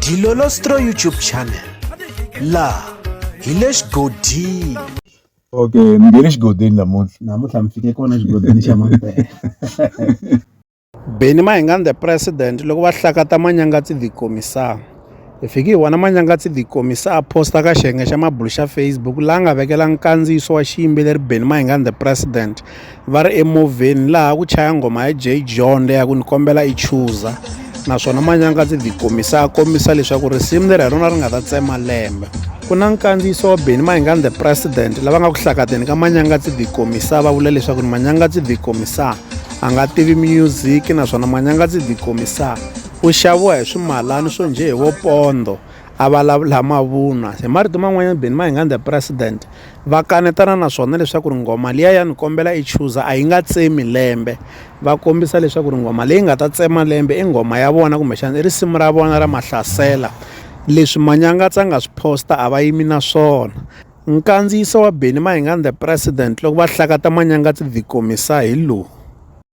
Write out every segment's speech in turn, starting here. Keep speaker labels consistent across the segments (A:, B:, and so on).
A: Dilolostro YouTube channel laha hi le xigodini okay mi nge le xigodini namuntlha namuntlha mi fike kona xigodini xa mampela beni mahingan the president loko va hlakata manyangatsi the commissar hi fiki hi vona manyangatsi the commissar a posta ka xiyenge xa mabulu xa facebook laha nga vekela nkandziyiso wa xiyimbeleri beni mahingan the president va ri emovheni laha ku chaya nghoma ya Jay John leyi ya ku ni kombela i chuza naswona manyanga ndzi ti komisa a kombisa leswaku risimu leri hi rona ri nga ta tsema lembe ku na nkandziyiso wa beni mahingani the president lava nga ku hlakateni ka manyanga ndzi ti komisa va vula leswaku ni manyanga ndzi ti komisa a nga tivi music naswona manyanga ndzi ti komisa u xaviwa hi swimalani swo njhe hi vopondo a vulavula mavunwa hi marito man'wanyana beni mahingani the president va kanetana na swona leswaku ri nghoma liya ya ni kombela i chuza a yi nga tsemi lembe va kombisa leswaku ri nghoma leyi nga ta tsema lembe i nghoma ya vona kumbexana i risimu ra vona ra mahlasela leswi manyangatsa nga swi posta a va yimi na swona nkandziyiso wa beni mahingani the president loko va hlakata manyangatsi the komisa hi lowu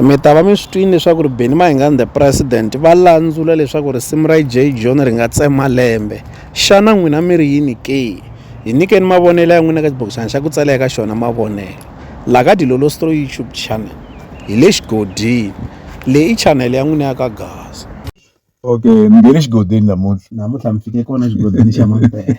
A: Mi ta va mi swi twile leswaku ri Benny Mayengani the president va landzula leswaku risimu ra J John ri nga tsema lembe. Xana n'wina mi ri yini ke? Hi nyikeni mavonelo ya n'wina eka xibokisana xa ku tsala eka xona mavonelo la ka Dilolostro YouTube channel. Hi le xigodini. Leyi i chanele ya n'wina ya ka Gaza. Okay, mi nghene xigodini namuntlha. Namuntlha mi fike kona xigodini xa mampela.